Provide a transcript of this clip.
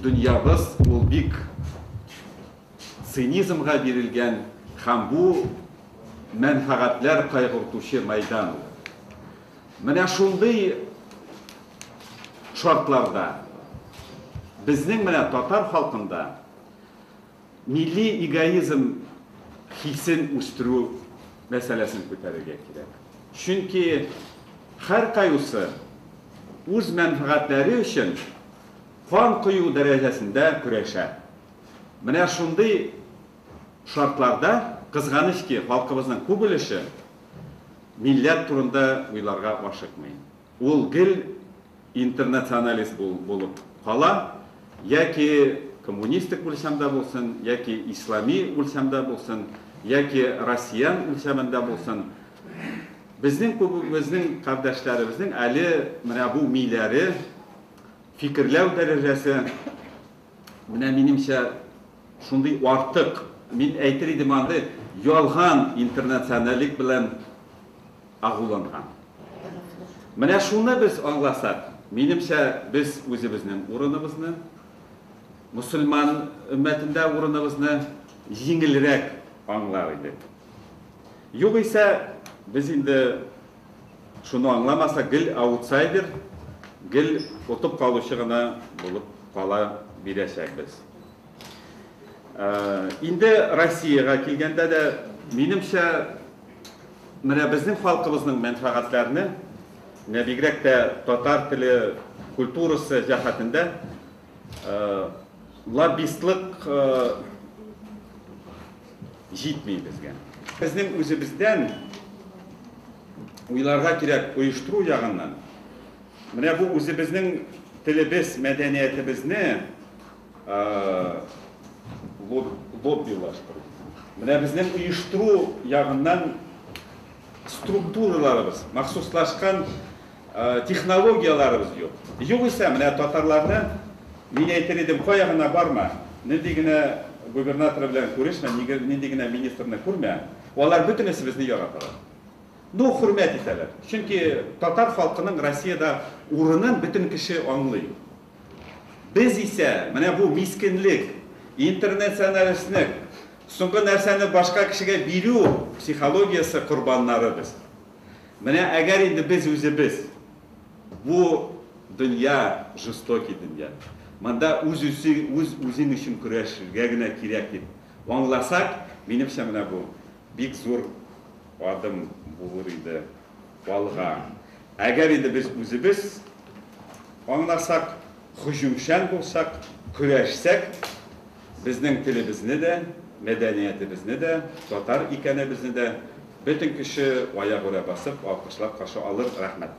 Дөньябыз ул бик цинизмга бирелгән һәм бу мәнфәгатьләр кайгыртучы мәйдан ул. Менә шундый шартларда безнең менә татар халкында милли эгоизм хисен үстерү мәсьәләсен күтәрергә кирәк. Чөнки һәркайусы үз мәнфәгатьләре өчен Кан кою дәрәҗәсендә көрәшә. Менә шундый шартларда, кызганыч ки, халкыбызның күп өлеше милләт турында уйларга ашыкмый. Ул гел интернационалист булып кала, яки коммунистик үлчәмдә булсын, яки ислами үлчәмдә булсын, яки россиян үлчәмендә булсын. Безнең күбебезнең кардәшләребезнең әле менә бу миләре Фикерләү дәрәҗәсе, менә минемчә, шундый артык. Мин әйтер идем аны, ялган интернационалик белән агуланган. Менә шуны без аңласак, минемчә, без үзебезнең урыныбызны, мөселман өммәтендә урыныбызны җиңелрәк аңлар идек. Югыйсә, без инде. Шуны аңламаса, гел аутсайдер, гел отып калучы гына булып кала бирәчәкбез. Инде Россиягә килгәндә дә, минемчә, менә безнең халкыбызның мәнфәгатьләрне, менә бигрәк тә татар теле, культурасы җәһәтендә лоббистлык җитми безгә. Безнең үзебездән уйларга кирәк, оештыру ягыннан. Менә бу үзебезнең телебез, мәдәниятебезне лоббилаштыру. Менә безнең оештыру ягыннан структураларыбыз, махсуслашкан Технологияләребез юк. Югыйсә, менә татарларны, мин әйтер идем, кая гына барма, нинди генә губернатор белән күрешмә, нинди генә министрны күрмә, алар бөтенесе безне яраталар. Ну, хөрмәт итәләр. Чөнки татар халкының Россиядә урынын бөтен кеше аңлый. Без исә, менә бу мискенлек, интернационалистнек, соңгы нәрсәне башка кешегә бирү психологиясе корбаннары без. Менә әгәр инде без үзебез, бу дөнья жестокий дөнья, монда үз-үзең өчен көрәшергә генә кирәк дип аңласак, минемчә, менә бу бик зур адым булыр иде алга. Әгәр инде без үзебез аңласак, һөҗүмчән булсак, көрәшсәк, Безнең телебезне дә, мәдәниятебезне дә, татар икәнебезне дә бөтен кеше аягүрә басып, алкышлап каршы алыр. Рәхмәт.